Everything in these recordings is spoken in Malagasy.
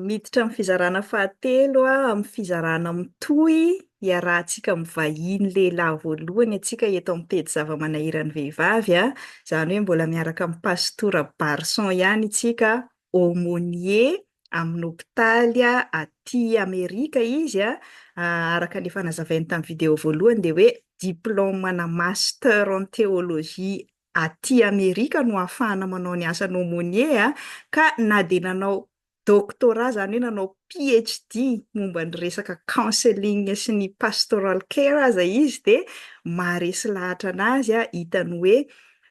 Miditra amin'ny fizarana fahatelo amin'ny fizarana mitohy iarahantsika mivahiny lehilahy voalohany antsika eto amin'ny pejy zava-manahiran'ny vehivavy, izany hoe mbola miaraka amin'i Pastora Barson ihany isika, aumônier amin'ny hopitaly aty Amerika izy, araka ny efa nazavainy tamin'ny video voalohany dia hoe diplaoma-na master en théologie aty Amerika no ahafahana manao ny asan'ny aumônier ka na dia nanao doctorat izany hoe nanao PHD momba ny resaka counseling sy ny pastoral care aza izy dia maharesy lahatra anazy hitany hoe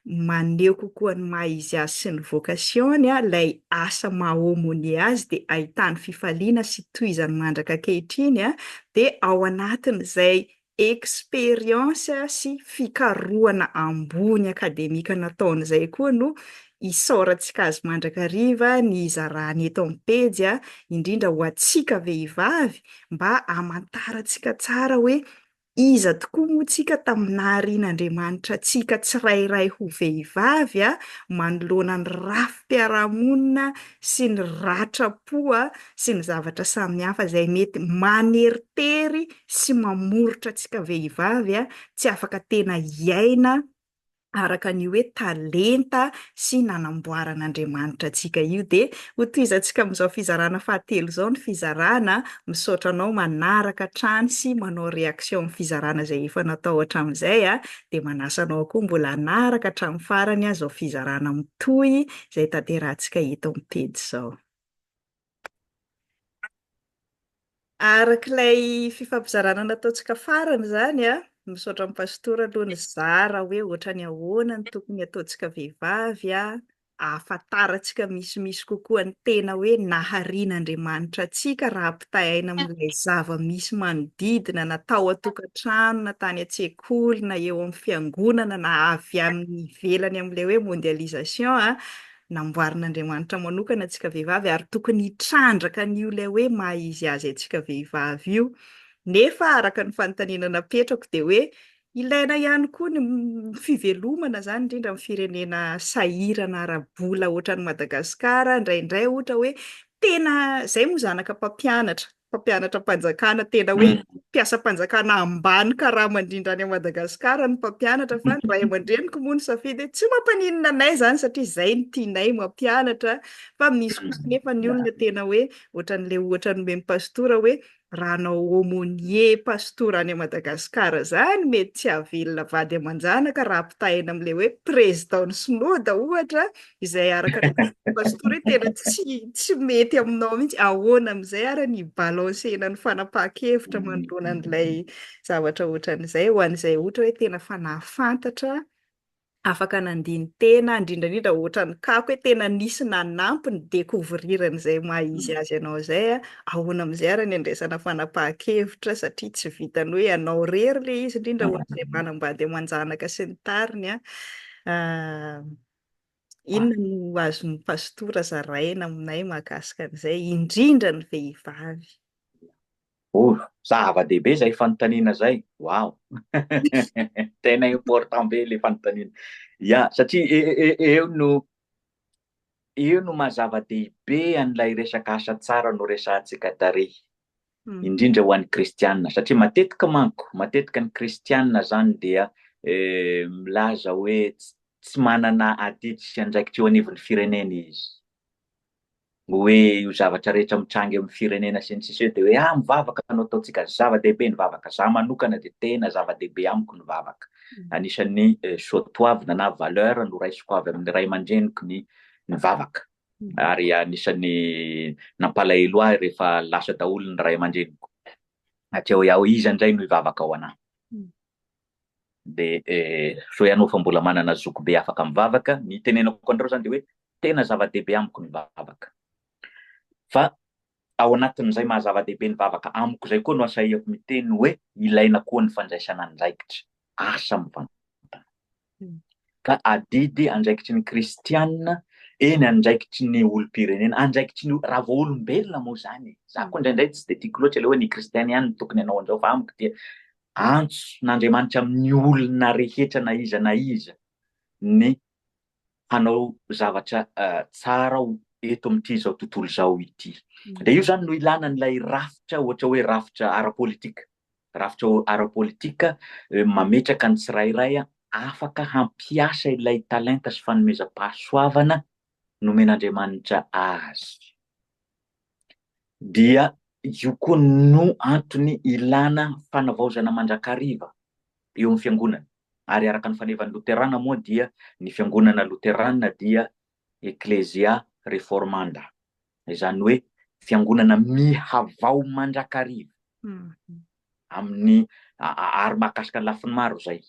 maneho kokoa ny maha izy azy sy ny vocation-ny ilay asa maha aumônier azy dia ahitany fifaliana sy tohizany mandraka ankehitriny dia ao anatin'izay expérience sy fikarohana ambony akademika nataony izay koa no isaorantsika azy mandrakariva ny hizarany eto amin'ny pejy, indrindra ho antsika vehivavy mba hamantarantsika tsara hoe iza tokoa moa tsika tamin'ny naharian'Andriamanitra antsika tsirairay ho vehivavy manoloana ny rafi-piarahamonina sy ny ratram-po sy ny zavatra samihafa izay mety maneritery sy mamoritra antsika vehivavy tsy afaka tena hiaina araka an'io hoe talenta sy nanamboaran'Andriamanitra antsika io dia ho tohizantsika amin'izao fizarana fahatelo izao ny fizarana, misaotra anao manaraka hatrany sy manao réaction amin'ny fizarana izay efa natao hatramin'izay a, dia manasa anao koa mbola hanaraka hatramin'ny farany izao fizarana mitohy izay tanterahantsika eto amin'ny pejy izao. Araka ilay fifampizarana nataontsika farany izany an, misaotra an'i Pastora aloha nizara hoe ohatrany ahoana no tokony hataontsika vehivavy hahafantarantsika misimisy kokoa ny tena hoe naharian'Andriamanitra antsika raha ampitahaina amin'ilay zava-misy manodidina na tao an-tokantrano na tany an-tsekoly na eo amin'ny fiangonana na avy any ivelany amin'ilay hoe mondialisation an, Namboarin'Andriamanitra manokana antsika vehivavy ary tokony hitrandraka an'io ilay hoe maha izy azy antsika vehivavy io. Nefa araka ny fanontaniana napetrako dia hoe ilaina ihany koa ny fivelomana izany indrindra amin'ny firenena sahirana ara-bola ohatran'i Madagasikara indraindray ohatra hoe tena, izay moa zanaka mpampianatra, mpampianatram-panjakana tena hoe mpiasam-panjakana ambany karama indrindra any Madagasikara ny mpampianatra fa ny ray aman-dreniko moa ny safidy tsy mampaninona anay izany satria izay ny tianay mampianatra fa misy kosa nefa ny olona tena hoe ohatran'ilay ohatra nomen'ny pastora hoe raha anao aumônier pastora any Madagasikara izany mety tsy hahavelona vady aman-janaka raha ampitahaina amin'ilay hoe président ny sinoda ohatra izay araka ny vazimba pastora hoe tena tsy tsy mety aminao mihitsy ahoana amin'izay ary ny balancer-na ny fanapahan-kevitra mm. manoloana an'ilay zavatra ohatran'izay ho an'izay ohatra hoe tena fa nahafantatra afaka nandiny tena indrindraindrindra ohatran'ny kako hoe tena nisy nanampy ny découvrir-ny izay maha izy mm. azy ianao izay a ahoana amin'izay ary ny andraisana fanapahan-kevitra satria tsy vitany hoe ianao rery ilay izy indrindra mm. ohatr'izay manambady aman-janaka sy ny tariny a ah, Inona no azon'ny pastora zaraina aminay mahakasika an'izay, indrindra ny vehivavy? Oh, zava-dehibe izay fanontaniana izay. Wow! Tena important be ilay fanontaniana. Ya, satria e, e, e, eo no eo no mazava-dehibe an'ilay resaka asa tsara no resahantsika tary. indrindra ho an'ny kristianina satria matetika manko matetika ny kristianina zany dia eh, milaza hoe tsy manana adidy sy andraikitra eo anivon'ny firenena izy hoe io zavatra rehetra mitranga amin'ny firenena sy ny sisy hoe de hoe ah mivavaka no ataontsika zava-dehibe ny vavaka za manokana de tena zava-dehibe amiko ny vavaka mm. anisan'ny eh, soatoavina na valeur no raisiko avy amin'ny ray aman-dreniko ny ny vavaka ary anisan'ny nampalahelo ahy rehefa lasa daholo ny ray aman-dreniko satria hoe aho iza indray no hivavaka ho anà dia eh, sao ianao fa mbola manana zoky be afaka mivavaka ny tenenako anareo zany dia hoe tena zava-dehibe amiko ny vavaka fa Ao anatin'izay maha-zava-dehibe ny vavaka amiko izay koa no asahiako miteny hoe ilaina koa ny fandraisana andraikitra. Asa mivantana. Ka adidy andraikitry ny kristiana, eny andraikitry ny olom-pirenena, andraikitry ny raha vao olombelona moa izany e! Izaho koa indraindray tsy dia tiako loatra ilay hoe ny kristiana ihany no tokony hanao an'izao fa amiko dia antso n'Andriamanitra amin'ny olona rehetra na iza na iza ny hanao zavatra tsara aho eto amin'ity izao tontolo izao ity. Dia io izany no ilana an'ilay rafitra, ohatra hoe rafitra ara-politika. Rafitra ara-politika mametraka ny tsirairay afaka hampiasa ilay talenta sy fanomezam-pahasoavana nomen'Andriamanitra azy. dia io koa no antony ilana fanavaozana mandrakariva eo amin'ny fiangonana, ary araka ny fanevan'ny loterana moa dia ny fiangonana loterana dia Ecclesia reformanda, izany hoe fiangonana mihavao mandrakariva amin'ny ary mahakasika ny lafiny maro izay.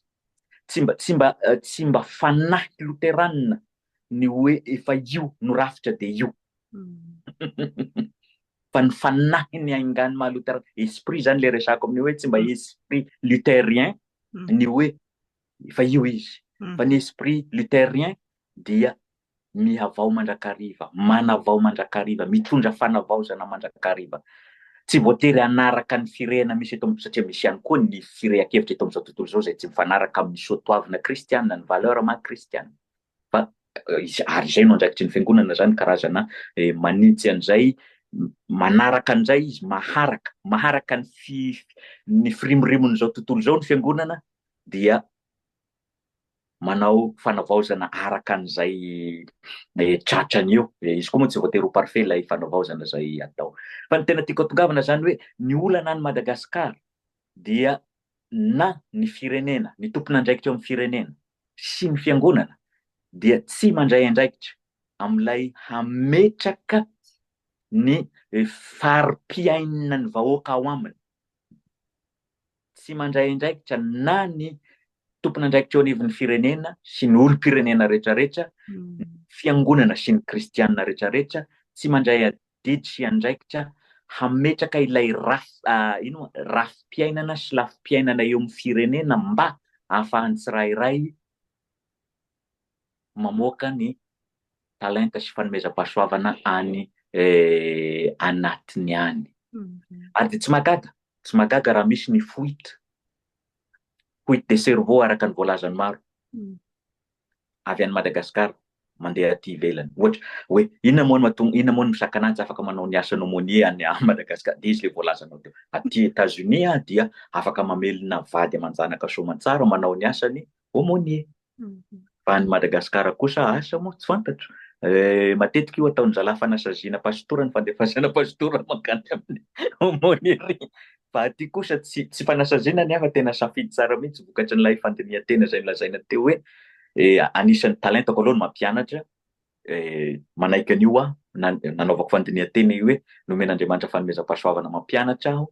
Tsy mba tsy mba tsy mba fanahy loterana ny hoe efa io no rafitra dia io fa ny fanahin'ny haingan'ny maha lutheriana esprit zany le resako amin'ny hoe tsy mba esprit lutherien ny hoe efa io izy fa ny esprit lutherien dia mihavao mandrakariva manavao mandrakariva mitondra fanavaozana mandrakariva tsy voatery hanaraka ny firehana misy eto amin'ny satria misy ihany koa ny firehan-kevitra eto amin'izao tontolo izao izay tsy mifanaraka amin'ny soatoavina kristiana ny valeur maha kristiana fa ary izay no andraikitry ny fiangonana izany karazana manintsy an'izay manaraka an'izay izy maharaka maharaka ny fi ny firimorimon'izao tontolo izao ny fiangonana dia manao fanavaozana araka an'izay eh, tratrany eo eh, izy koa moa tsy voatery ho parfait ilay fanavaozana izay atao fa ny tena tiako atongavana izany hoe ny olana any madagasikara dia na ny firenena, ny tompon'andraikitra eo amin'ny firenena sy ny fiangonana dia tsy mandray andraikitra amin'ilay hametraka ny fari-piainan'ny vahoaka ao aminy. Tsy mandray andraikitra na ny tompon'andraikitra eo anivon'ny firenena sy ny olom-pirenena rehetrarehetra, ny fiangonana sy ny kristianina rehetrarehetra, tsy mandray didy sy andraikitra hametraka ilay rafi-piainana sy lafim-piainana eo amin'ny firenena mba ahafahan'ny tsirairay mamoaka ny talenta sy fanomezam-pahasoavana any anatiny any. Ary dia tsy mahagaga, tsy mahagaga raha misy ny fuite, fuite de cerveau araka ny voalazan'ny maro. avy any Madagascar mandeha aty ivelany ohatra hoe inona moa no mahatonga inona moa no mizaka anah tsy afaka manao ny asan'ny aumônier any Madagascar dia izy le voalazanao teo aty Etats Unis aho dia afaka mamelona vady aman-janaka soamantsara manao ny asan'ny aumônier fa any Madagascar kosa asa moa tsy fantatro Eh, matetika io ataon'ny zalahy fanasaziana pasitora ny fandefasana pasitora mankany amin'ny aumônerie Fa aty kosa tsy tsy fanasaziana ny ahy fa tena safidy tsara mihitsy vokatry an'ilay fandinihan-tena izay nolazaina teo hoe anisan'ny talentako aloha ny mampianatra, manaiky an'io aho, na nanaovako fandinihan-tena io hoe nomen'Andriamanitra fanomezam-pahasoavana mampianatra aho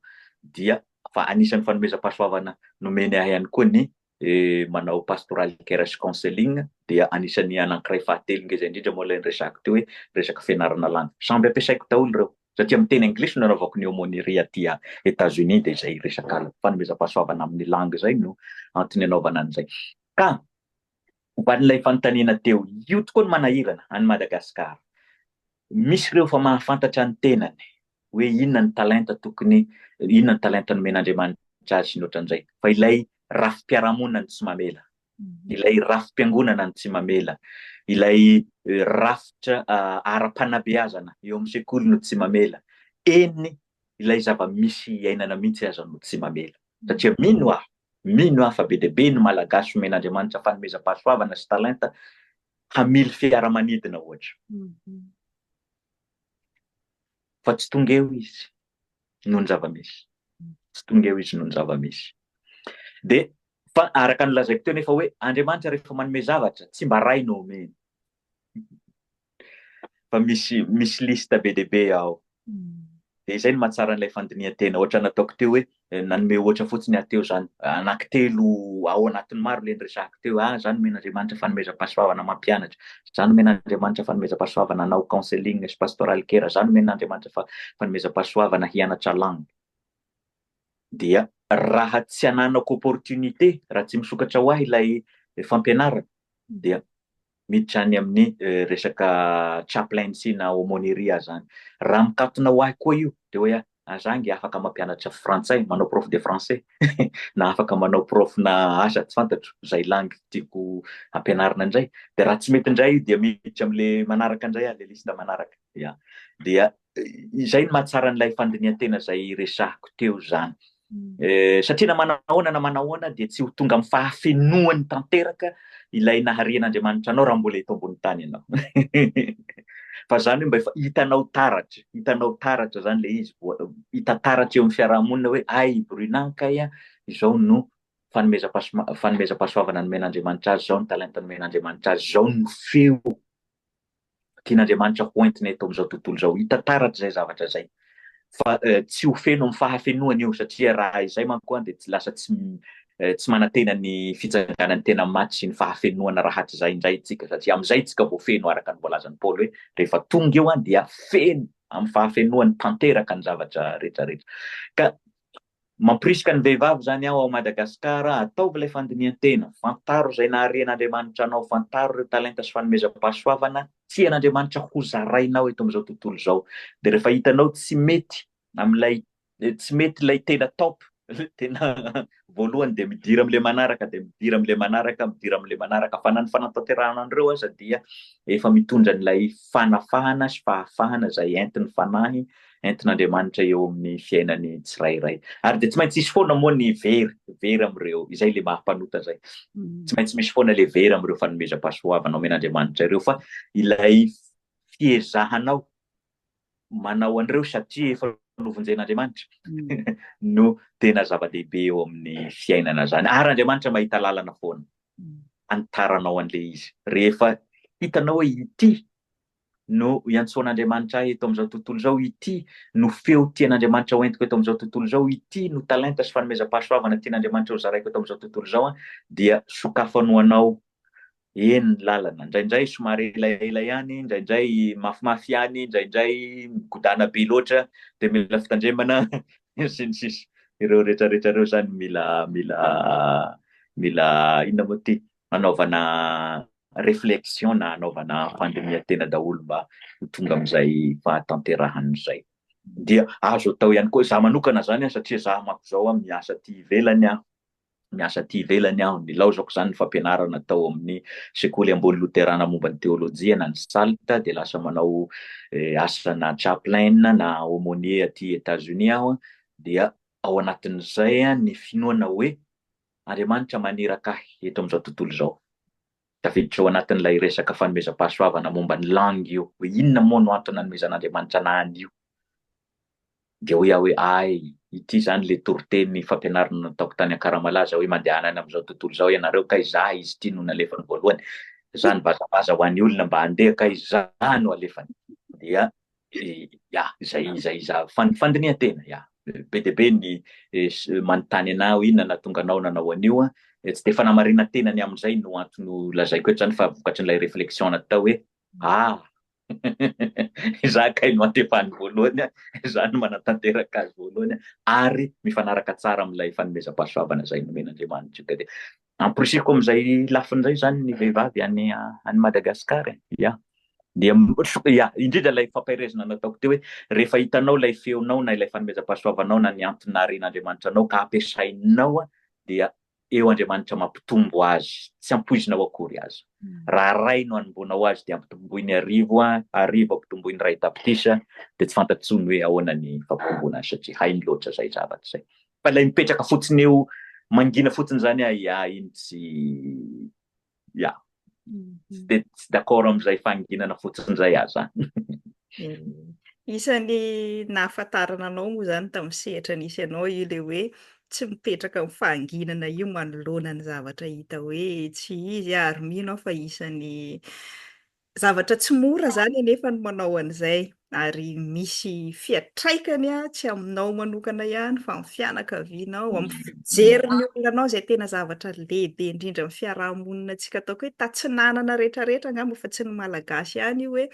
dia fa anisan'ny fanomezam-pahasoavana nomeny ahy ihany koa ny manao pastoral care sy counseling dia anisan'ny anankiray fahatelo ngeza indrindra moa ilay niresahako teo hoe resaka fianarana landy. Samby ampiasaiko daholo ireo satria amin'ny teny anglisy no nanaovako ny aumônerie aty États-Unis dia izay resaka fanomezam-pahasoavana amin'ny langue izay no antony anaovana an'izay. Ka Momba an'ilay fanontaniana teo, io tokoa no manahirana an'i Madagasikara. Misy ireo efa mahafantatra ny tenany hoe inona ny talenta tokony, inona ny talenta nomen'Andriamanitra azy sy ny ohatran'izay. Fa ilay rafi-piarahamonina no tsy mamela, ilay rafi-piangonana no tsy mamela, ilay rafitra ara-panabeazana eo amin'ny sekoly no tsy mamela, eny ilay zava-misy iainana mihitsy aza no tsy mamela. Satria mino aho, mino aho fa be dia be ny Malagasy omen'Andriamanitra fanomezam-pahasoavana sy talenta hamily fiaramanidina ohatra. Fa tsy tonga eo izy noho ny zava-misy. Tsy tonga eo izy noho ny zava-misy. Dia fa araka ny lazaiko teo nefa hoe Andriamanitra rehefa manome zavatra tsy mba ray no omeny. fa misy misy liste be dia be ao. Dia izay no mahatsara an'ilay fandinihan-tena. Ohatra nataoko teo hoe nanome ohatra fotsiny aho teo izany. Anankitelo ao anatin'ny maro ilay niresahako teo. Ah, izaho nomena Andriamanitra fanomezam-pahasoavana mampianatra. Izaho nomena Andriamanitra fanomezam-pahasoavana hanao counseling sy pastoral care. Izaho nomena Andriamanitra fanomezam-pahasoavana hianatra langue. Dia raha tsy ananako opportunité, raha tsy misokatra ho ahy ilay fampianarana, dia miditra any amin'ny resaka chaplaincy na aumônerie zany. Raha mikatona ho ahy koa io dia hoe ah, za nge afaka mampianatra frantsay, manao prof de français na afaka manao prof na asa tsy fantatro zay langue tiako ampianarina indray. Dia raha tsy mety indray io dia miditra amin'le manaraka indray ah, le liste manaraka. Ya. Dia izay no mahatsara an'ilay fandinihan-tena izay resahiko teo izany. Eh, satria na manao ahoana na manao ahoana dia tsy ho tonga amin'ny fahafenoany tanteraka ilay naharian'Andriamanitra anao raha mbola eto ambony tany ianao. Fa izany hoe mba efa hitanao taratra, hitanao taratra izany ilay izy, hita taratra eo amin'ny fiarahamonina hoe ay i Bruna kay izao no fanomezam-pahasoavana nomen'Andriamanitra azy, izao ny talenta nomen'Andriamanitra azy, izao no feo Tian'Andriamanitra ho entina eto amin'izao tontolo izao. Hita taratra izay zavatra izay. Fa tsy ho feno amin'ny fahafenoany io, satria raha izay manko dia lasa tsy tsy manantena ny fitsanganan'ny tena maty sy ny fahafenoana rahatrizay indray isika, satria amin'izay isika vao feno, araka ny voalazan'i Paoly hoe rehefa tonga io dia feno amin'ny fahafenoany tanteraka ny zavatra rehetra rehetra. Ka Mampirisika ny vehivavy izany aho ao Madagascar, ataovy ilay fandinihan-tena, fantaro izay nahare an'Andriamanitra anao, fantaro ireo talenta sy fanomezam-pahasoavana tian'Andriamanitra hozarainao eto amin'izao tontolo izao, dia rehefa hitanao tsy mety amin'ilay tsy mety ilay tena top, ilay tena voalohany dia midira amin'ilay manaraka, dia midira amin'ilay manaraka, midira amin'ilay manaraka, fa na ny fanatanterahana an'ireo aza dia efa mitondra an'ilay fanafahana sy fahafahana izay entin'ny Fanahy entin'Andriamanitra eo amin'ny fiainan'ny tsirairay. Ary dia tsy maintsy hisy foana moa ny very, very amin'ireo, izay ilay maha mpanota izay. Mm. Tsy maintsy misy foana ilay very amin'ireo fanomezam-pahasoavana omen'Andriamanitra ireo, fa ilay fiezahanao manao an'ireo satria efa novonjen'Andriamanitra mm. no tena zava-dehibe eo amin'ny fiainana zany ary Andriamanitra mahita lalana foana mm. anitaranao an'le izy rehefa hitanao hoe ity no iantsoan'Andriamanitra ahy eto amin'izao tontolo izao, ity no feo tian'Andriamanitra ho entiko eto amin'izao tontolo izao, ity no talenta sy fanomezam-pahasoavana tian'Andriamanitra ho zaraiko eto amin'izao tontolo izao, dia sokafany ho anao eny ny lalana. Indraindray somary elaela ihany, indraindray mafimafy ihany, indraindray migodana be loatra, dia mila fitandremana, sy ny sisa. Ireo rehetrarehetra ireo izany mila, mila, mila inona moa ity? hanaovana reflexion na hanaovana fandinihan-tena daholo mba ho tonga amin'izay fahatanterahana izay. Dia azo atao ihany koa, za manokana zany an, satria za manko zao an miasa aty ivelany an, miasa aty ivelany aho, nilaozako zany ny fampianarana tao amin'ny sekoly ambony loterana momba ny teolojia na ny SALT, dia lasa manao asana chaplain na aumonier aty Etats Unis aho an, dia ao anatin'izay an ny finoana hoe Andriamanitra maniraka ahy eto amin'izao tontolo izao. Tafiditra ao anatin'ilay resaka fanomezam-pahasoavana momba ny langue io hoe inona moa no antony nanomezan'Andriamanitra anah an'io. Dia hoy aho hoe ay, ity izany ilay toriteny fampianarana nataoko tany Ankaramalaza hoe mandehana any amin'izao tontolo izao ianareo kay za izy ity no nalefany voalohany. Izany vazavaza ho an'ny olona mba handeha kay za no alefany. Dia Ya, izay izay izaho. Fan- Fandinihan-tena, ya. Be dia be ny eh, s- eh, manontany anah hoe inona nahatonga anao nanao an'io. an. Eh, Tsy dia fanamarinan-tena ny amin'izay no antony ho lazaiko eto izany fa vokatry n'ilay réflexion natao hoe ah izaho kay no antefany voalohany, an. izaho no manatanteraka azy voalohany an. ary mifanaraka tsara amin'ilay fanomezam-pahasoavana izay nomen'Andriamanitra. Ka dia Amporisihiko amin'izay lafiny izay izany ny vehivavy any any Madagascar e. Ia. Dia ia, indrindra ilay fampaherezana nataoko teo hoe rehefa hitanao ilay feonao na ilay fanomezam-pahasoavanao na ny antony naharian'Andriamanitra anao ka ampiasainao dia eo Andriamanitra mampitombo azy, tsy ampoizinao akory aza. Raha ray no anomboanao azy dia ampitomboiny arivo, arivo ampitomboiny ray tapitrisa dia tsy fantatro intsony hoe ahoana ny fampitomboana azy satria hainy loatra izay zavatra izay. Fa ilay mipetraka fotsiny eo mangina fotsiny zany ahy ah, iny tsy ya tsy de tsy d'accord amin'izay fanginana fotsiny zay aho za. Isan'ny nahafantarana anao moa zany tamin'ny sehatra nisy anao io le hoe tsy mipetraka amin'ny fahanginana io manoloana ny zavatra hita hoe tsy izy ary mino aho fa isan'ny Zavatra tsy mora izany anefa ny manao an'izay, ary misy fiantraikany tsy aminao manokana ihany fa amin'ny fianakavianao, amin'ny fijerin'ny olona anao izay tena zavatra lehibe indrindra amin'ny fiaraha-monina antsika ataoko hoe tatsinanana rehetrarehetra angamba fa tsy ny Malagasy ihany io hoe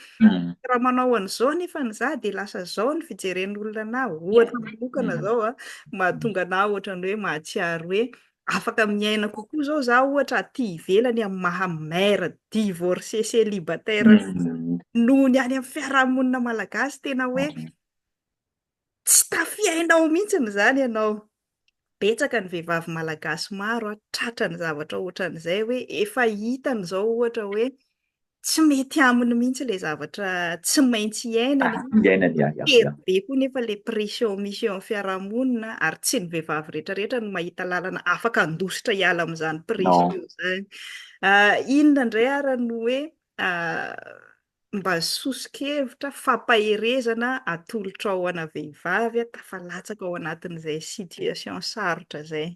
raha manao an'izao nefa ny za dia lasa izao ny fijeren'olona anah, ohatra manokana izao an, mahatonga anah ohatran'ny hoe mahatsiaro hoe Afaka miaina kokoa zao za ohatra aty ivelany amin'ny maha mère divorcée célibataire mm. noho ny any amin'ny fiarahamonina malagasy tena hoe mm. tsy tafiainao mihitsy ny zany ianao betsaka ny vehivavy malagasy maro a tratra ny zavatra ohatran'izay hoe efa hitany zao ohatra hoe tsy mety aminy mihitsy ilay zavatra tsy maintsy iainany. Ah, iainany, ah, ah, be koa nefa ilay pression misy eo amin'ny fiarahamonina ary tsy ny vehivavy rehetrarehetra no mahita lalana afaka handositra hiala amin'izany pression izany. Ah, inona indray ary no hoe ah, mba soso-kevitra fampaherezana atolotra ao ana vehivavy tafalatsaka ao anatin'izay situation sarotra izay.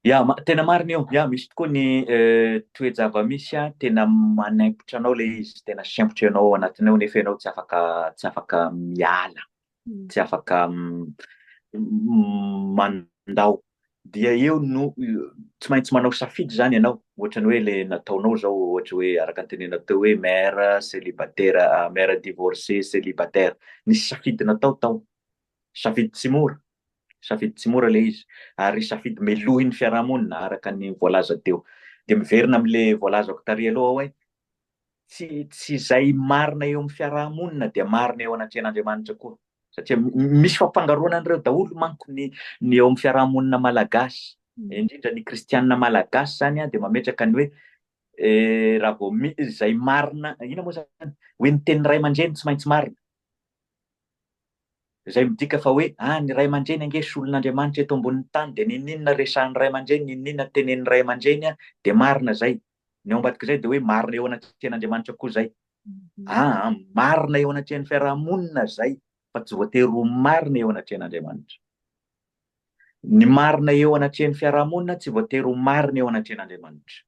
Ya, tena marina io, ya misy tokoa ny toe-javamisy an, tena manaimpotra anao ilay izy, tena sempotra ianao ao anatiny ao nefa ianao tsy afaka tsy afaka miala, tsy afaka mandao, dia eo no tsy maintsy manao safidy izany ianao, ohatra ny hoe ilay nataonao izao ohatra hoe araka ny tenenao teo hoe mère célibataire, mère divorcée célibataire, nisy safidy natao tao, Safidy tsy mora, safidy tsy mora ilay izy ary safidy melohin'ny fiarahamonina araka ny voalaza teo. Dia miverina amin'ilay voalazako tary aloha aho hoe tsy tsy izay marina eo amin'ny fiarahamonina dia marina eo anatrehan'Andriamanitra koa. Satria misy fampangaroana an'ireo daholo manko ny ny eo amin'ny fiarahamonina malagasy. Mm. Indrindra ny kristianina malagasy izany dia mametraka ny hoe eh, raha vao izay marina, ina moa izany? Hoe ny teny ray aman-dreny tsy maintsy marina. Izay midika fa hoe, ah, ny ray aman-dreny ange solon'Andriamanitra eto ambonin'ny tany, dia n'inon'inona resahin'ny ray aman-dreny, n'inon'inona tenenin'ny ray aman-dreny, dia marina izay. Ny ao ambadik'izay dia hoe marina eo anatrehan'Andriamanitra koa izay. Ah, ah, marina eo anatrehan'ny fiaraha-monina izay, fa tsy voatery ho marina eo anatrehan'Andriamanitra. Ny marina eo anatrehan'ny fiarahamonina tsy voatery ho marina eo anatrehan'Andriamanitra.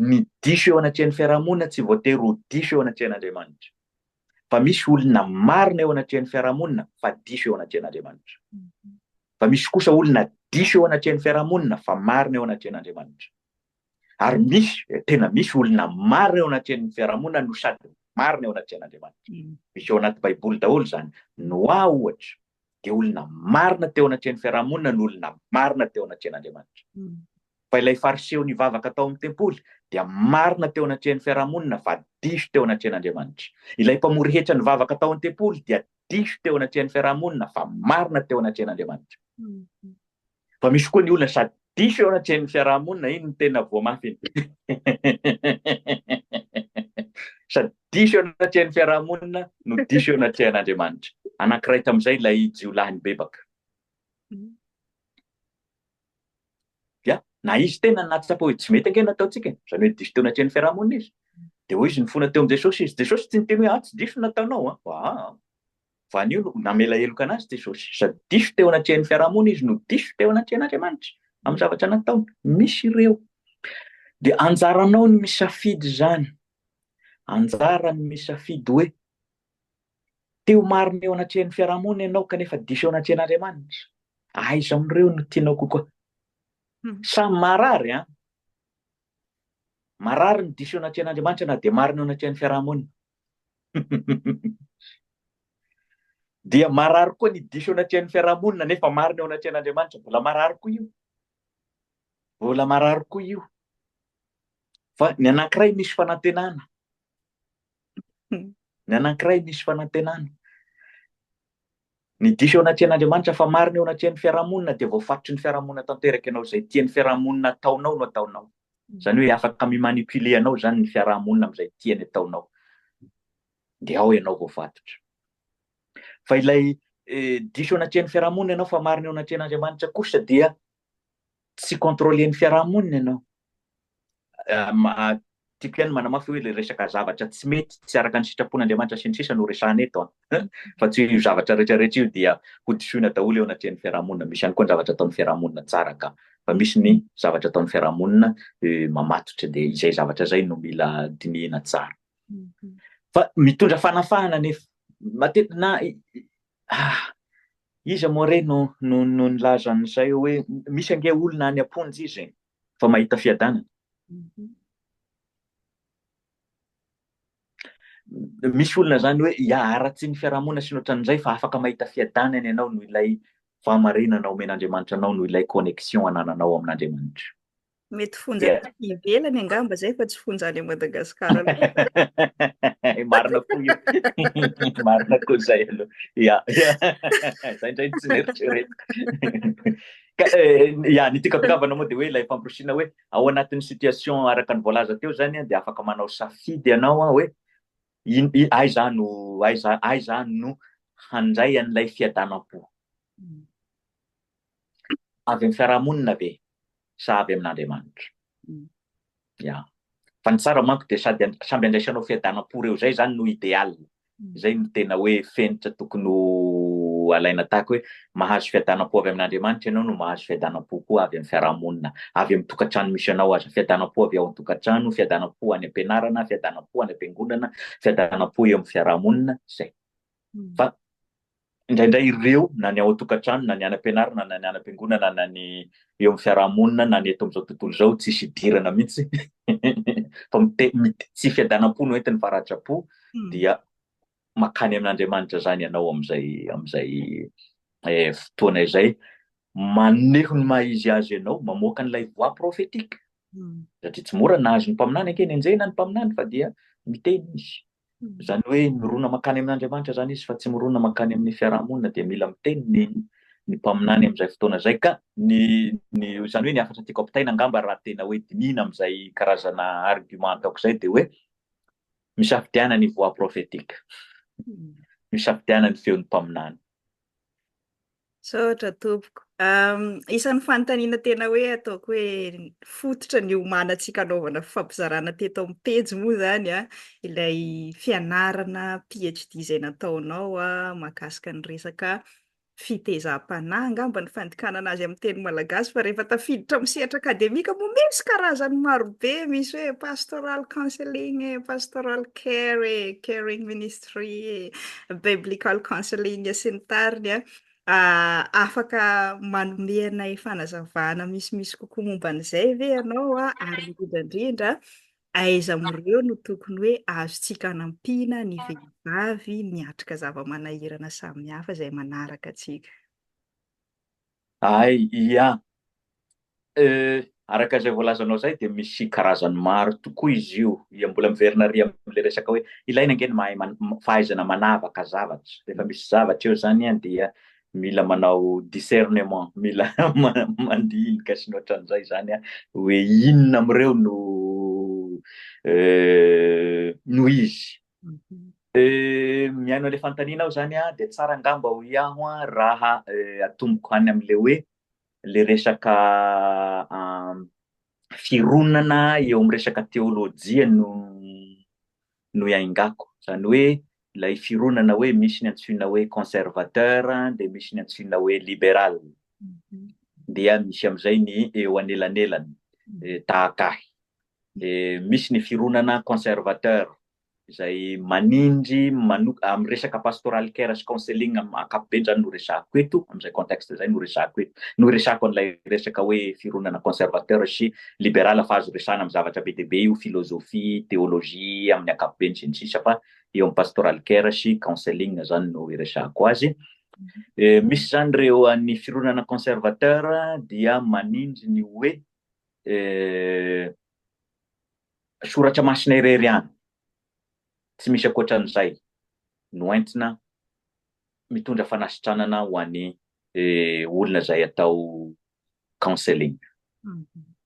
Ny diso eo anatrehan'ny fiarahamonina tsy voatery ho diso eo anatrehan'Andriamanitra. Fa misy olona marina eo anatrehan'ny fiarahamonina fa diso eo anatrehan'Andriamanitra. Fa misy kosa olona diso eo anatrehan'ny fiarahamonina fa marina eo anatrehan'Andriamanitra. ary misy tena misy olona marina eo anatrehan'ny fiarahamonina no sady marina eo anatrehan'Andriamanitra. Misy ao anaty Baiboly daholo izany. Noa ohatra, dia olona marina teo anatrehan'ny fiarahamonina no olona marina teo anatrehan'Andriamanitra. Fa ilay Fariseo nivavaka tao amin'ny tempoly dia marina teo anatrehan'ny fiarahamonina fa diso teo anatrehan'Andriamanitra. Ilay mpamory hetra nivavaka tao amin'ny tempoly dia diso teo anatrehan'ny fiarahamonina fa marina teo anatrehan'Andriamanitra. Fa misy koa ny olona sady diso eo anatrehan'ny fiarahamonina, iny no tena voa mafy iny. Sady diso eo anatrehan'ny fiarahamonina no diso eo anatrehan'Andriamanitra. Anankiray tamin'izay ilay jiolahy nibebaka. Dia na izy tena nahatsapa hoe tsy mety ange ny ataontsika, izany hoe diso teo anatrehan'ny fiarahamonina izy. Dia hoy izy nifona teo amin'i Jesosy izy. Jesosy tsy niteny hoe ah tsy diso ny nataonao an. Ah, Fa anio no namela heloka an'azy Jesosy, sady diso teo anatrehan'ny fiaraha-monina izy no diso teo anatrehan'Andriamanitra amin'ny zavatra nataony. Misy ireo. Dia anjaranao ny misafidy izany. Anjarany misafidy hoe te ho marina eo anatrehan'ny fiaraha-monina ianao kanefa diso eo anatrehan'Andriamanitra. Aiza amin'ireo no tianao kokoa? Samy marary an! Marary ny diso eo anatrehan'Andriamanitra na dia marina eo anatrehan'ny fiaraha-monina. Dia marary koa ny diso eo anatrehan'ny fiaraha-monina nefa marina eo anatrehan'Andriamanitra. Mbola marary koa io. Mbola marary koa io. Fa ny anankiray misy fanantenana. Ny anankiray misy fanantenana. Ny diso eo anatrehan'Andriamanitra fa marina eo anatrehan'ny fiarahamonina dia voafatotry ny fiarahamonina tanteraka ianao, izay tian'ny fiarahamonina ataonao no ataonao. Izany hoe afaka mi-manipuler anao izany ny fiarahamonina amin'izay tiany ataonao. Dia ao ianao voafatotra. Fa ilay diso eo anatrehan'ny fiarahamonina ianao fa marina eo anatrehan'Andriamanitra kosa dia tsy controler ny fiarahamonina ianao. Tiako ihany manamafy hoe ilay resaka zavatra tsy mety, tsy araka ny sitrapon'Andriamanitra sy ny sisa no resahana eto an! Fa tsy hoe io zavatra rehetra rehetra io dia hodisoina daholo eo anatrehan'ny fiarahamonina. Misy ihany koa ny zavatra ataon'ny fiarahamonina tsara ka. Fa misy ny zavatra ataon'ny fiarahamonina mamatotra dia izay zavatra izay no mila dinihina tsara. Fa mitondra fanafahana anefa. Matetika na ah, Iza moa re no no nilaza an'izay hoe misy ange olona any am-ponja izy e, vao mahita fiadanana. Misy olona izany hoe hiharatsy ny fiarahamonina sy ny ohatran'izay fa afaka mahita fiadanana ianao noho ilay fahamarinana omen'Andriamanitra anao, noho ilay connexion anananao amin'Andriamanitra. Mety fonja yeah. taty ivelany angamba zay fa tsy fonja any Madagasikara. Marina koa io. Marina koa zay aloha. Ya. Zay ndray tsy neritreretiko. Eh, ya ny tikakavana moa dia hoe ilay famporisiana hoe ao anatin'ny situation araka ny voalaza teo zany dia afaka manao safidy ianao hoe ai za no ai za ai za no handray an'ilay fiadanam-po. Mm. avy amin'ny fiarahamonina ve sa avy amin'Andriamanitra? Ya. Fa ny tsara manko dia sady samby andraisanao fiadanam-po reo zay zany no ideal. Zay no tena hoe fenitra tokony ho alaina tahaka hoe mahazo fiadanam-po avy amin'Andriamanitra ianao no mahazo fiadanam-po koa avy amin'ny fiarahamonina, avy amin'ny tokantrano misy anao aza, fiadanam-po avy ao an-tokantrano, fiadanam-po any am-pianarana, fiadanam-po any am-piangonana, fiadanam-po eo amin'ny fiarahamonina, zay. Fa Indraindray ireo, na ny ao an-tokantrano, na ny any am-pianarana, na ny any am-piangonana, na ny eo amin'ny fiaraha-monina, na ny eto amin'izao tontolo izao, tsisy idirana mihitsy fa mite, mite, tsy fiadanam-po no entiny fa ratra-po, dia makany amin'Andriamanitra izany ianao amin'izay, amin'izay eh, fotoana izay. Maneho ny maha izy azy ianao, mamoaka an'ilay voix prophétique. Satria tsy mora nahazo ny mpaminany anke nenjehina ny mpaminany fa dia miteny izy. Izany hoe mirona mankany amin'Andriamanitra izany izy fa tsy mirona mankany amin'ny fiaraha-monina dia mila miteny ny ny mpaminany amin'izay fotoana izay ka ny ny izany hoe ny hafatra tiako ampitaina angamba raha tena hoe dinihina amin'izay karazana argument ataoko izay dia hoe misafidiana ny voix prophétique misafidiana ny feon'ny mpaminany Misaotra tompoko. Isan'ny fanontaniana tena hoe ataoko hoe fototra niomanantsika hanaovana fifampizarana teto amin'ny pejy moa izany ilay fianarana PhD izay nataonao mahakasika ny resaka fitezam-panahy angamba ny fandikanana azy amin'ny teny malagasy fa rehefa tafiditra amin'ny sehatra akademika moa misy karazany marobe, misy hoe pastoral counseling e, pastoral care e, caring ministry. Tree, Biblical Counseling sy ny tariny an, afaka manome anay fanazavana misimisy kokoa momba an'izay ve ianao an, ary indrindra indrindra aiza amin'ireo no tokony hoe azontsika anampiana ny vehivavy miatrika zava-manahirana samihafa izay manaraka antsika? Hay ia! Euh, araka izay voalazanao izay dia misy karazany maro tokoa izy io. Ia, mbola miverina ary amin'ilay resaka hoe ilaina ange ny mahay man, fahaizana manavaka zavatra. Rehefa misy zavatra eo izany an, dia mila manao discernement, mila mandinika sy ny ohatran'izay izany an, hoe inona amin'ireo no euh, no izy. Mihaino an'ilay fanontaniana aho izany an, dia tsara angamba hoy aho an, raha atomboko any amin'ilay hoe ilay resaka fironana eo amin'ny resaka teolojia no no iaingako, izany hoe ilay fironana hoe misy ny antsoina hoe conservateur dia misy ny antsoina hoe liberal, dia misy amin'izay ny eo anelanelany, tahaka ahy. dia misy ny fironana conservateur izay manindry manok amin'ny resaka pastoral care sy counseling am- ankapobeny zany no resahako eto amin'izay contexte izay no resahako eto no resahako an'ilay resaka hoe fironana conservateur sy liberal fa azo resahana amin'ny zavatra be dia be io philosophie théologie amin'ny ankapobeny sy ny sisa fa eo amin'ny pastoral care sy counseling zany no iresahako azy Eh, misy zany ireo an'ny fironana conservateur dia manindry ny hoe Eh, soratra masina irery ihany, tsy misy ankoatran'izay, no entina mitondra fanasitranana ho an'ny eh, olona izay atao counseling.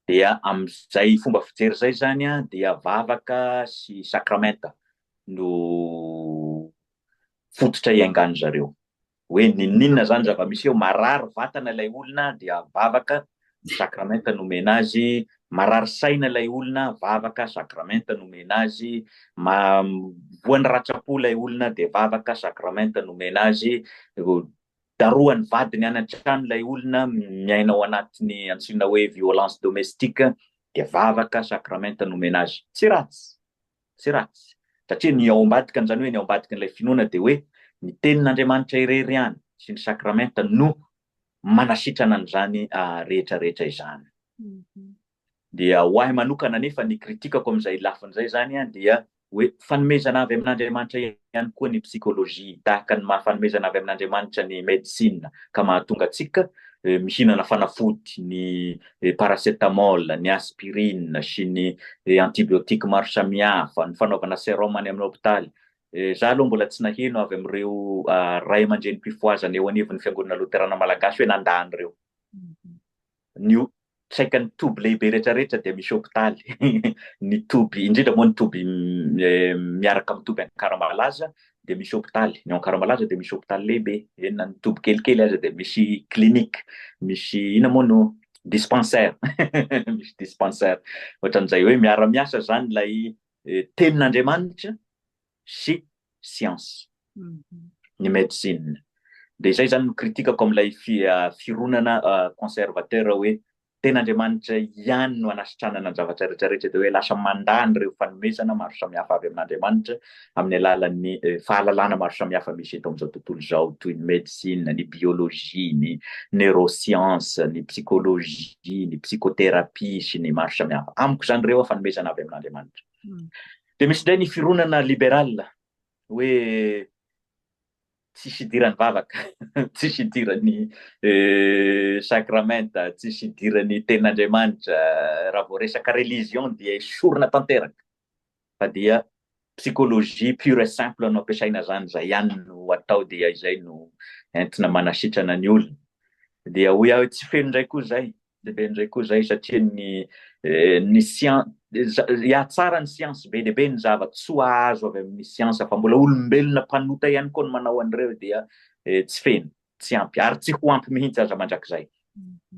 Dia amin'izay fomba fijery izay izany a, dia vavaka sy sakramenta no fototra iangan'ny zareo. Hoe ninoninona zany zava-misy eo, marary vatana ilay olona dia vavaka, ny sakramenta no omena azy, marary saina ilay olona, vavaka, sakramenta no omena azy, ma, voan'ny ratsa-po ilay olona dia vavaka, sakramenta no omena azy, darohan'ny vadiny any an-trano ilay olona, miaina ao anatin'ny antsoina hoe violence domestique dia vavaka, sakramenta no omena azy. Tsy ratsy. tsy ratsy. Satria ny ao ambadikan' izany hoe ny ao ambadiky ilay finoana dia hoe ny tenin' Andriamanitra irery ihany sy ny sakramenta no manasitrana an' izany rehetra rehetra izany. Dia ho ahy manokana anefa ny kritikako amin' izay lafiny izay izany dia hoe fanomezana avy amin' Andriamanitra irery ihany koa ny psikôlôjia, tahaka ny maha fanomezana avy amin'Andriamanitra ny medisina ka mahatonga antsika mihinana fanafody, ny paracetamol, ny aspirine sy ny antibiotiques maro samihafa, ny fanaovana serum any amin'ny hôpitaly. Za aloha mbola tsy naheno avy amin'ireo Ray aman-dReny mpifohazana eo anivon'ny Fiangonana Loterana Malagasy hoe nandà an'ireo. ny saika ny toby lehibe rehetrarehetra dia misy hopitaly, ny toby, indrindra moa ny toby miaraka amin'ny toby Ankaramalaza dia misy hopitaly, ny ao Ankaramalaza dia misy hopitaly lehibe, eny na ny toby kelikely aza dia misy clinique, misy inona moa no dispensaire, misy dispensaire, ohatran'izay hoe miara-miasa izany ilay tenin'Andriamanitra sy siansa ny medecine. Dia izay izany no critique-ko amin'ilay fironana conservateur hoe tena Andriamanitra ihany no anasitranana ny zavatra rehetra rehetra dia hoe lasa mandà an'ireo fanomezana maro samihafa avy amin'Andriamanitra amin'ny alalan'ny fahalalana maro samihafa misy eto amin'izao tontolo izao toy ny medecine, ny biologie, ny neuroscience, ny psychologie, ny psychothérapie sy ny maro samihafa. Amiko izany ireo fanomezana avy amin'Andriamanitra. Dia misy indray ny fironana liberal hoe tsisy idiran'ny vavaka, tsisy idiran'ny sakramenta, tsisy idiran'ny tenin'Andriamanitra, raha vao resaka religion dia esorina tanteraka. Fa dia psychologie pure et simple no ampiasaina zany, izay ihany no atao dia izay no entina manasitrana ny olona. Dia hoy aho tsy feno indray koa izay, Dia be indray koa izay satria ny ny sian hihatsara ny siansa be dia be ny zava-tsoa azo avy amin'ny siansa fa mbola olombelona mpanota ihany koa ny manao an'ireo dia tsy feno, tsy ampy ary tsy ho ampy mihitsy aza mandrakizay.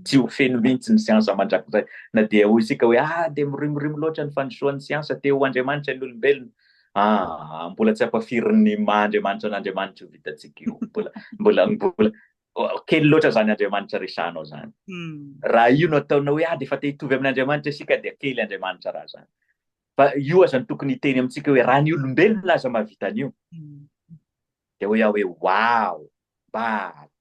Tsy ho feno mihitsy ny siansa mandrakizay. Na dia hoy isika hoe ah dia mirimorimo loatra ny fandrosoan'ny siansa te ho andriamanitra ny olombelona. Ah, mbola tsy ampafirin'ny maha andriamanitra an'Andriamanitra io vitantsika io. Mbola mbola mbola Kely loatra izany Andriamanitra resahanao izany. Raha io no ataonao hoe ah dia efa te hitovy amin'Andriamanitra isika dia kely Andriamanitra raha izany. Fa io aza no tokony hiteny amintsika hoe raha ny olombelona aza mahavita an'io. Dia hoy aho hoe wow, mba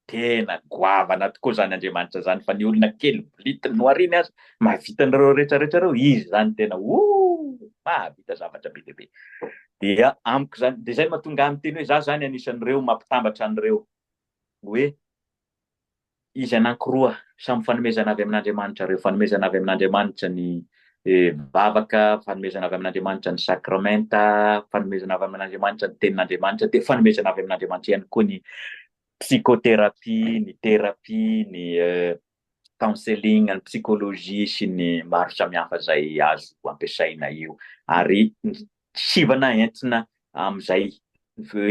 tena goavana tokoa izany Andriamanitra izany fa ny olona kely blity nohariany aza mahavita an'ireo rehetra rehetra ireo, izy izany tena oh mahavita zavatra be dia be. Dia amiko izany, dia izay no mahatonga ahy miteny hoe izaho izany anisan'ireo mampitambatra an'ireo hoe izy anankiroa samy fanomezana avy amin'Andriamanitra reo, fanomezana avy amin'Andriamanitra ny vavaka, fanomezana avy amin'Andriamanitra ny sakramenta, fanomezana avy amin'Andriamanitra ny tenin'Andriamanitra, dia fanomezana avy amin'Andriamanitra ihany koa ny psychothérapie, ny thérapie, ny counseling an'ny psychologie sy ny maro samihafa izay azo ampiasaina io ary ny sivana entina amin'izay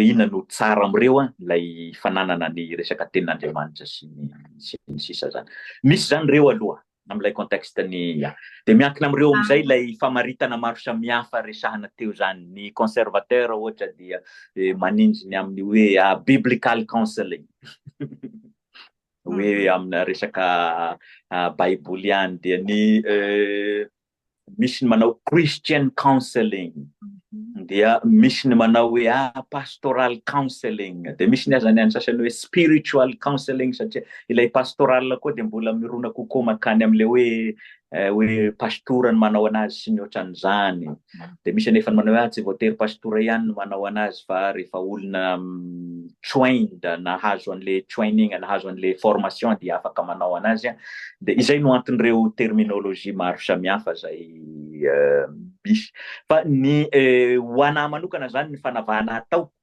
inona no tsara amin'ireo an ilay fananana ny resaka tenin'Andriamanitra sy ny sy ny sisa zany misy zany ireo aloha amin'ilay contexte ny dia miankina amin'ireo amin'izay ilay famaritana maro samihafa resahana teo zany ny conservateur ohatra dia eh, maninjy ny amin'ny hoe ah, biblical counseling hoe amina resaka baiboly ihany dia ny misy ny manao christian counseling mhm. dia misy ny manao hoe a ah, pastoral counseling dia misy ny azany any sasany hoe spiritual counseling satria ilay pastoral koa dia mbola mirona kokoa makany am'le hoe hoe pastora no manao anazy sy ny ohatran'izany, dia misy anefa ny manao hoe ah tsy voatery pastora ihany no manao anazy fa rehefa olona trained, nahazo an'le training, nahazo an'le formation dia afaka manao anazy, dia izay no anton'ireo terminologie maro samihafa izay misy. Fa ny ho anah manokana izany ny fanavahana ataoko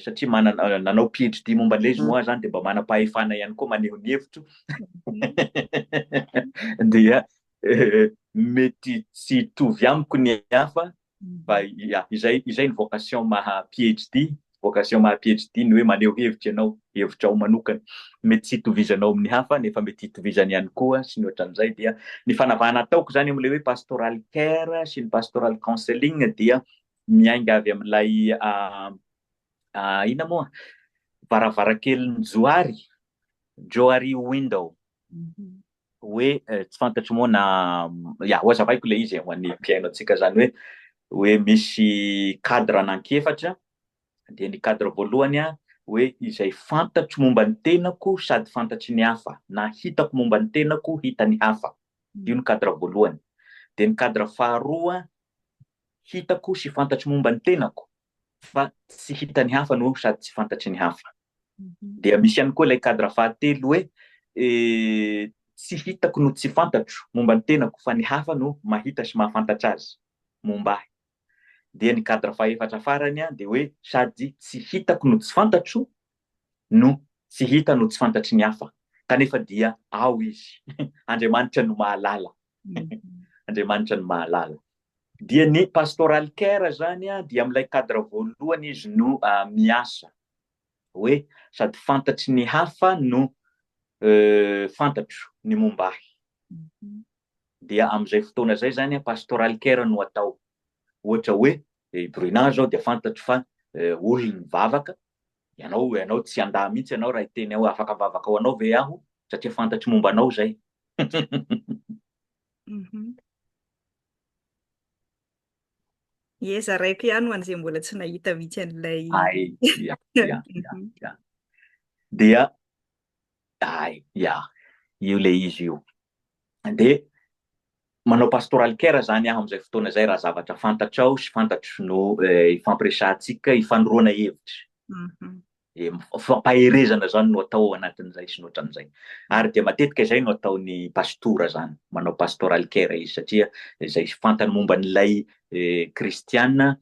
satria manana nanao PhD momba an'ilay izy moa zany dia mba manam-pahefana ihany koa maneho ny hevitro dia mety tsy hitovy amiko ny hafa fa ya izay izay ny vocation maha PhD vocation maha PhD ny hoe maneho hevitra ianao hevitra ao manokana mety tsy hitovizanao amin'ny hafa nefa mety hitovizany ihany koa sy ny ohatran'izay dia ny fanavahana ataoko zany amin'ilay hoe pastoral care sy ny pastoral counseling dia miainga avy amin'ilay inona moa varavarankelin'i Johary, Johary window. Mhm. Hoe eh, tsy fantatro moa na ya ho azavaiko ilay izy eh, ho an'ny mpihaino antsika izany hoe hoe misy cadre anankiefatra dia ny cadre voalohany a hoe izay fantatro momba ny tenako sady fantatry ny hafa na hitako momba ny tenako hita ny hafa io ny cadre voalohany dia ny cadre faharoa Hitako sy fantatro momba ny tenako fa tsy hitan'ny hafa no sady tsy fantatry ny hafa. Dia misy ihany koa ilay cadre fahatelo hoe tsy hitako no tsy fantatro momba ny tenako fa ny hafa no mahita sy mahafantatra azy momba ahy. Dia ny cadre fahefatra farany dia hoe sady tsy hitako no tsy fantatro no tsy hita no tsy fantatry ny hafa kanefa dia ao izy. Andriamanitra no mahalala. Andriamanitra no mahalala. Dia ny Pastoral Care izany dia amin'ilay cadre voalohany izy no miasa. Hoe sady fantatry ny hafa no fantatro ny momba ahy. Dia amin'izay fotoana izay izany Pastoral Care no atao. Ohatra hoe i Bruna izao dia fantatro fa olona mivavaka, ianao, ianao tsy handà mihitsy ianao raha hiteny hoe afaka mivavaka ho anao ve aho satria fantatro momba anao izay. Ie, zaraiko ihany ho an'izay mbola tsy nahita mihitsy an'ilay... Ay, ya, ya, ya, ya. Dia, ay, ya, io le izy io. Dia, manao pastoral care zany aho amin'izay fotoana izay raha zavatra fantatrao sy fantatro no ifampiresahantsika, ifanoroana hevitra. dia fampaherezana izany no atao ao anatin'izay sy ny ohatran'izay. Ary dia matetika izay no ataon'ny pastora izany, manao pastoral care izy satria izay fantany momba an'ilay kristiana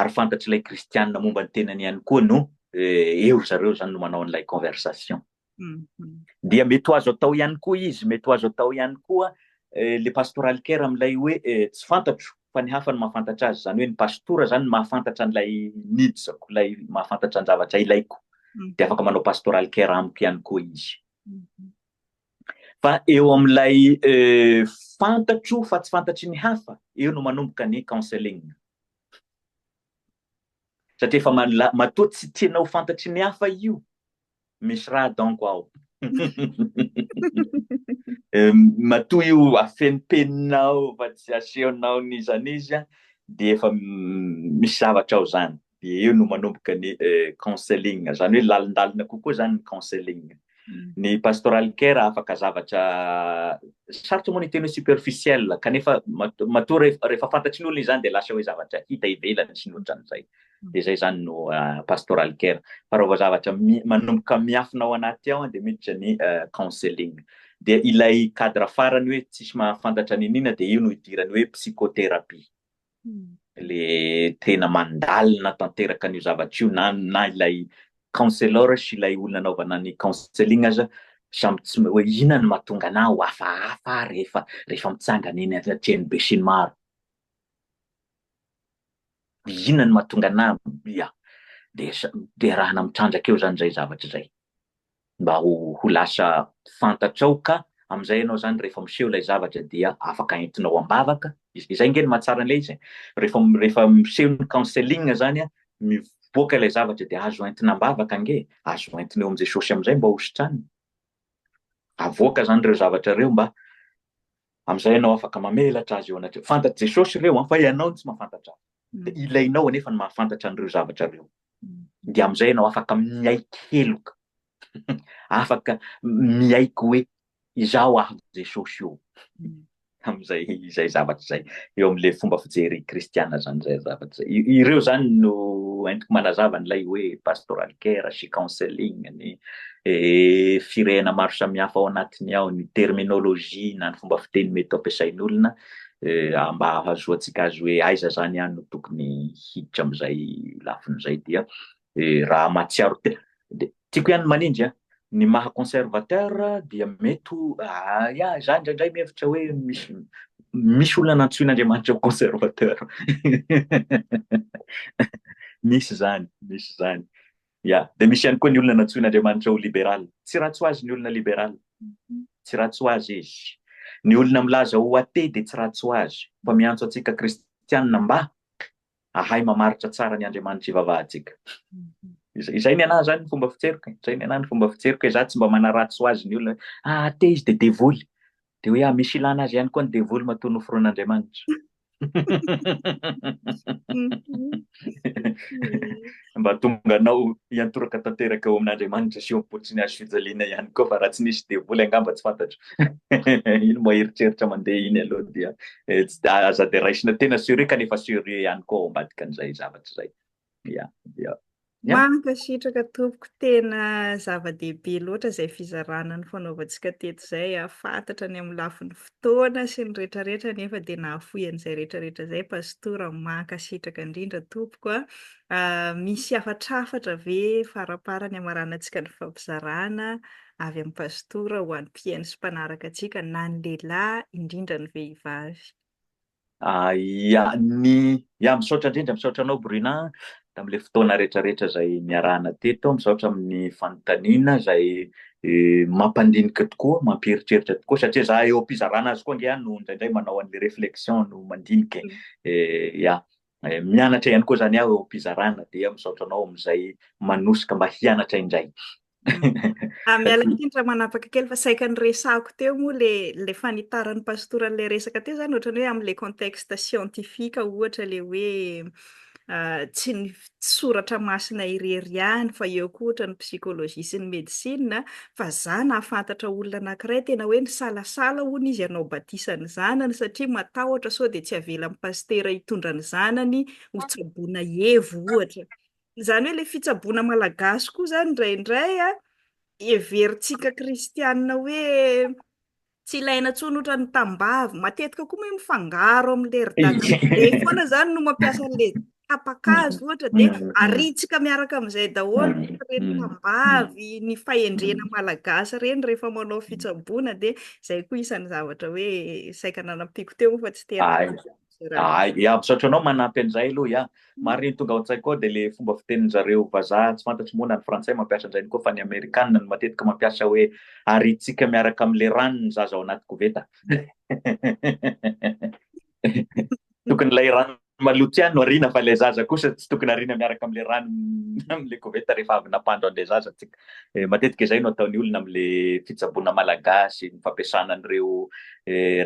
ary fantatr'ilay kristiana momba ny tenany ihany koa no eo ry zareo izany no manao an'ilay conversation. Dia mety ho azo atao ihany koa izy, mety ho azo atao ihany koa le pastoral care amin'ilay hoe tsy fantatro fa ny hafa no mahafantatra azy, izany hoe ny pastora izany no mahafantatra an'ilay needs-ko, ilay mahafantatra ny zavatra ilaiko, dia afaka manao pastoral care amiko ihany koa izy. Fa eo amin'ilay fantatro fa tsy fantatry ny hafa, eo no manomboka ny counseling. Satria efa matoa tsy tianao fantatry ny hafa io, Misy raha donc ao. Matoa io afenimpeninao fa tsy asehonao n'iza n'iza dia efa misy zavatra ao zany. Dia eo no manomboka ny counseling, zany hoe lalindalina kokoa zany ny counseling. Ny pastoral care afaka zavatra sarotra moa ny hiteny hoe superficiel kanefa matoa rehefa fantatry ny olona izany dia lasa hoe zavatra hita ivelany sy ny otran'izay. dia zay zany no pastoral care fa raha vao zavatra manomboka miafina ao anaty ao dia miditra ny counseling dia ilay cadre farany hoe tsisy mahafantatra ny nina dia io no idirany hoe psychothérapie le tena mandalina tanteraka an'io zavatra io na na ilay counselor sy ilay olona anaovana ny counseling aza samy tsy hoe inona no mahatonga anah ho hafahafa rehefa rehefa mitsangana eny atrehan'ny be sy ny maro Inona no mahatonga anah mia dia deraina mitrandraka eo izany izay zavatra izay? Mba ho ho lasa fantatrao ka, amin'izay ianao izany rehefa miseho ilay zavatra dia afaka entinao am-bavaka, izay ange no mahatsara an'ilay izy e! rehefa rehefa miseho ny counseling izany an, mivoaka ilay zavatra dia azo entina am-bavaka ange e! azo entina eo amin'i Jesosy amin'izay mba hositraniny, avoaka izany ireo zavatra ireo mba Amin'izay ianao afaka mamelatra azy eo anatrehany. Fantatr'i Jesosy ireo an, fa ianao no tsy mahafantatra azy. Dia ilainao anefa ny mahafantatra an'ireo zavatra ireo. Dia amin'izay ianao afaka miaiky heloka. afaka miaiky hoe izaho avy Jesosy io. Amin'izay izay zavatra izay. Eo amin'ilay fomba fijery kristiana izany izay zavatra izay. I- Ireo izany no entiko manazava an'ilay hoe pastoral care sy counseling ny firehana maro samihafa ao anatiny ao, ny terminologie na ny fomba fiteny mety ho ampiasain'olona mba hahazoantsika azy hoe aiza zany aho no tokony hiditra amin'izay lafiny izay dia raha mahatsiaro tena dia tiako ihany manindry an ny maha conservateur dia mety ho ya za indraindray mihevitra hoe misy misy olona nantsoin'Andriamanitra ho conservateur misy zany misy zany Ya, dia misy ihany koa ny olona nantsoin'Andriamanitra ho liberal. Tsy ratsy ho azy ny olona liberal. Tsy ratsy ho azy izy. Ny olona milaza ho athée dia tsy ratsy ho azy, fa miantso antsika kristianina mba hahay mamaritra tsara ny Andriamanitra ivavahantsika. Izay ny anah izany ny fomba fitseriko e. Izay ny anah ny fomba fitseriko e. Za tsy mba manaratsy ho azy ny olona hoe ah athée izy dia devoly. Dia hoe aho misy ilana azy ihany koa ny devoly matoa noforon'Andriamanitra. Mba tonga anao hiantoraka tanteraka eo amin'Andriamanitra sy eo am-po tsy nihazo fijaliana ihany koa fa raha tsy nisy devoly angamba tsy fantatro. Iny moa eritreritra mandeha iny aloha dia aza dia raisina tena sérieux kanefa sérieux ihany koa ao ambadikan'izay zavatra izay. ya ya Mankasitraka tompoko, tena zava-dehibe loatra izay fizarana nifanaovantsika teto izay. Fantatra ny amin'ny lafiny fotoana sy ny rehetrarehetra nefa dia nahafoy an'izay rehetrarehetra izay Pastora. Mankasitraka indrindra tompoko a. Ah, misy hafatrafatra ve faramparany hamaranantsika ny fampizarana avy amin'ny Pastora ho an'ny mpihaino sy mpanaraka antsika na ny lehilahy indrindra ny vehivavy? Ah, ya, ny, ya, misaotra indrindra, misaotra anao Bruna tamin'ilay fotoana rehetrarehetra izay niarahana teto, misaotra amin'ny fanontaniana izay eh, mampandinika tokoa, mampieritreritra tokoa, satria za eo am-pizarana azy koa ange aho no indraindray manao an'ilay réflexion no mandinika e. Eh, ya, Mianatra ihany koa izany aho eo am-pizarana dia misaotra anao amin'izay manosika mba hianatra indray. Ah, miala tsiny raha manapaka kely fa saika niresahako teo moa le le fanitaran'ny pastora an'ilay resaka teo zany ohatrany hoe amin'ilay contexte scientifique ohatra le hoe ah, tsy ny soratra masina irery ihany fa eo koa ohatrany psychologie sy ny médecine fa za nahafantatra olona anakiray tena hoe nisalasala hono izy hanao batisa ny zanany satria matahotra sao dia tsy avelan'ny pasitera hitondra ny zanany ho tsaboina hevo ohatra, izany hoe ilay fitsaboana malagasy koa izany indraindray an, heverintsika kristianina hoe Tsy ilaina intsony ohatran'ny tambavy. Matetika koa moa mifangaro amin'ny leri-dahalo be foana izany no mampiasa an'ilay tapa-kazo ohatra dia aritsika miaraka amin'izay daholo ny tambavy, ny fahendrena malagasy ireny rehefa manao fitsaboana dia izay koa isan'ny zavatra hoe saika nanampiako teo fa tsy tena Ah, ya, misaotra anao manampy an'izay aloha ya. Mm. Marina ny tonga ao an-tsaiko ao dia le fomba fitenin'ny zareo vazaha tsy fantatro moa na ny frantsay mampiasa an'izay koa fa ny amerikana no matetika mampiasa hoe aritsika miaraka amin'le rano ny zaza ao anaty koveta. Tokony ilay rano maloto tsy ihany no arina fa ilay zaza kosa tsy tokony arina miaraka amin'le rano amin'le koveta rehefa avy nampandro an'le zaza tsika. Matetika izay no ataon'ny olona amin'ilay fitsaboana malagasy, ny fampiasana an'ireo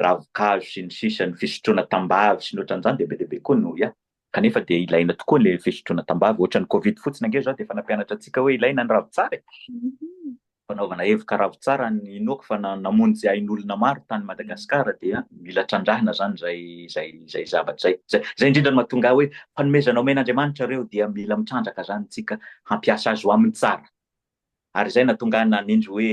ravin-kazo sy ny sisa, ny fisotroana tambavy sy ny ohatran'izany dia be dia be koa no ia. Kanefa dia ilaina tokoa ilay fisotroana tambavy. Ohatran'ny covid fotsiny ange izao dia efa nampianatra antsika hoe ilaina ny ravintsara e! Fanaovana hevoka ravintsara ny inoako fa namonjy ain'olona maro tany Madagasikara dia mila trandrahina izany izay izay izay zavatra izay. Izay izay indrindra no mahatonga ahy hoe fanomezana omen'Andriamanitra ireo dia mila mitrandraka izany isika hampiasa azy ho amin'ny tsara. Ary izay nahatonga ahy nanendry hoe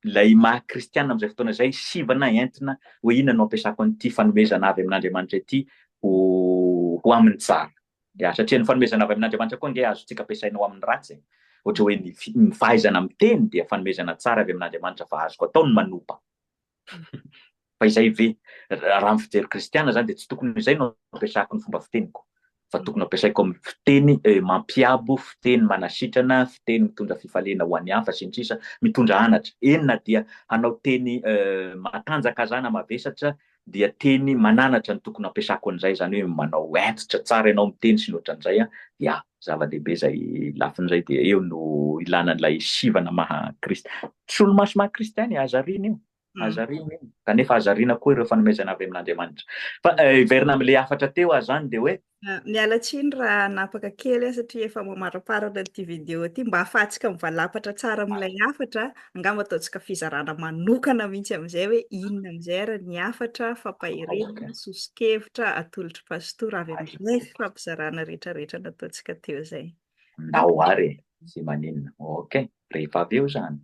ilay maha kristiana amin'izay fotoana izay, sivana entina hoe inona no hampiasako an'ity fanomezana avy amin'Andriamanitra ity ho ho amin'ny tsara. Ya, satria ny fanomezana avy amin'Andriamanitra koa ange azontsika ampiasaina ho amin'ny ratsy e. Ohatra hoe ny ny fahaizana miteny dia fanomezana tsara avy amin'Andriamanitra fa azoko atao ny manopa. Fa izay ve? Raha amin'ny fijery kristiana izany dia tsy tokony ho izay no ampiasako ny fomba fiteniko, fa tokony ampiasaiko amin'ny fiteny mampiabo, fiteny manasitrana, fiteny mitondra fifaliana ho an'ny hafa, sy ny sisa Mitondra anatra. Eny na dia hanao teny matanjaka aza aho na mavesatra dia teny mananatra no tokony ampiasako an'izay, izany hoe manao hentitra tsara ianao miteny sy ny ohatran'izay an! Ya, zava-dehibe izay lafiny izay dia eo no ilana an'ilay sivana maha-kristiana. Solomaso maha kristiana e, aza ariana io, aza ariana io, kanefa aza ariana koa ireo fanomezana avy amin'Andriamanitra. Fa hiverina amin'ilay hafatra teo aho izany dia hoe. Miala tsiny raha hanapaka kely aho satria efa mamaramparana ity video ity, mba hahafahantsika mivalapatra tsara amin'ilay hafatra, angamba ataontsika fizarana manokana mihitsy amin'izay hoe inona amin'izay ary ny hafatra, fampaherezana, soso-kevitra, atolotr'i Pastora avy amin'ilay fifampizarana rehetrarehetra nataontsika teo izay. Nao ary e! Sy maninona. Ok. Rehefa avy eo izany.